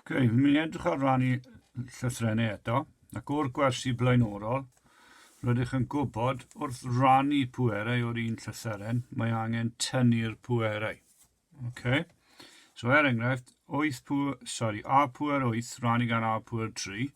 Okay, fi'n mynd i edrych ar ran i llythrennau eto, ac o'r gwersi blaenorol, rydych yn gwybod wrth rannu pwerau o'r un llythyren, mae angen tynnu'r pwerau. Okay. So er enghraifft, 8 pwer, sorry, A pwer 8 rannu gan A pwer 3,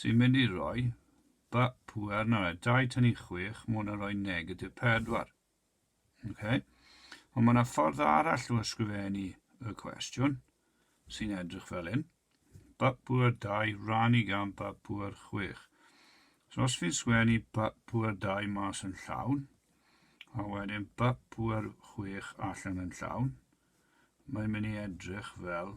sy'n mynd i roi ba pŵer na fe. 2 tynnu 6, mae hwnna'n rhoi negatif 4. Okay. Ond mae yna ffordd arall o ysgrifennu y cwestiwn sy'n edrych fel hyn. Ba pŵer 2 rannu gan ba pŵer 6. So os fi'n sgwennu ba pŵer 2 mas yn llawn, a wedyn ba pŵer 6 allan yn llawn, mae'n mynd i edrych fel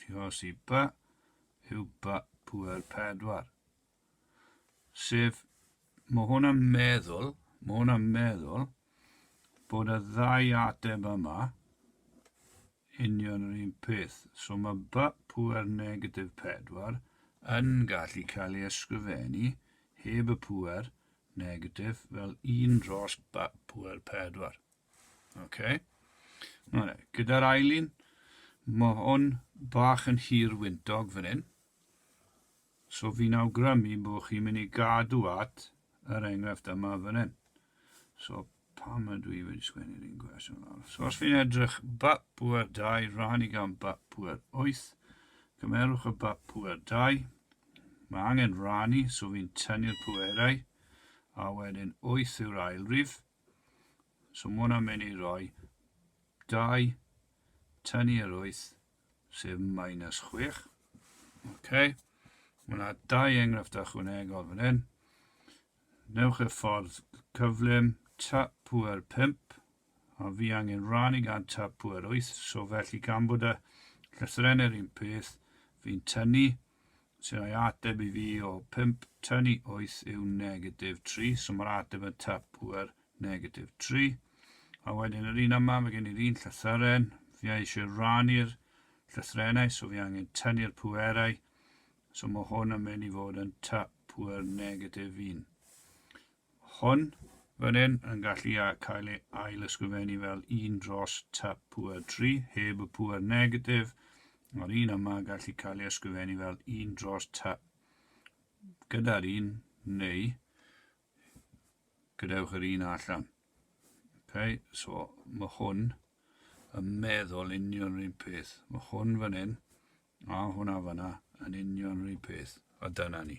Diolch i By yw By Pŵer Pedwar. Sef, mae hwn yn meddwl, mae hwn yn meddwl bod y ddau ateb yma union yr un peth. So mae By Pŵer Negatif Pedwar yn gallu cael ei ysgrifennu heb y pŵer negatif fel un dros By Pŵer Pedwar. Okay. Mae'n e. Gyda'r ail un, mae hwn bach yn hir wyntog fan hyn. So fi'n awgrymu bod chi'n mynd i gadw at yr enghraifft yma fan hyn. So pam ydw i wedi sgwennu'r un gwestiwn lawr? So os fi'n edrych bap pwer 2, rhan i gan bap pwer 8, cymerwch y bap pwer 2, mae angen rhan i, so fi'n tynnu'r pwerau, a wedyn 8 yw'r ail rif, So mae hwnna'n mynd i roi 2 tynnu yr 8 sef minus 6. OK. Mae yna dau enghraifft ychwanegol fan hyn. Newch y ffordd cyflym tap pwer 5 a fi angen rannu gan tap pwer 8 so felly gan bod y llythrenau'r un peth fi'n tynnu sy'n rhoi ateb i fi o 5 tan i 8 yw negatif 3, so mae'r ateb yn tapwer negatif 3. A wedyn yr un yma, mae gen i'r un llythyren, fi eisiau rannu'r llythrenau, so fi angen tynnu'r pwerau, so mae hwn yn mynd i fod yn tapwer negatif 1. hwn fan hyn yn gallu cael ei ail-ysgrifennu fel 1 dros tap pŵer 3 heb y pŵer negatif, mae'r un yma yn gallu cael ei ysgrifennu fel 1 dros tap gyda'r un neu gadewch yr un allan. Okay, so mae hwn yn meddwl union rhywun peth. Mae hwn fan hyn a hwnna fanna yn union rhywun peth. A dyna ni.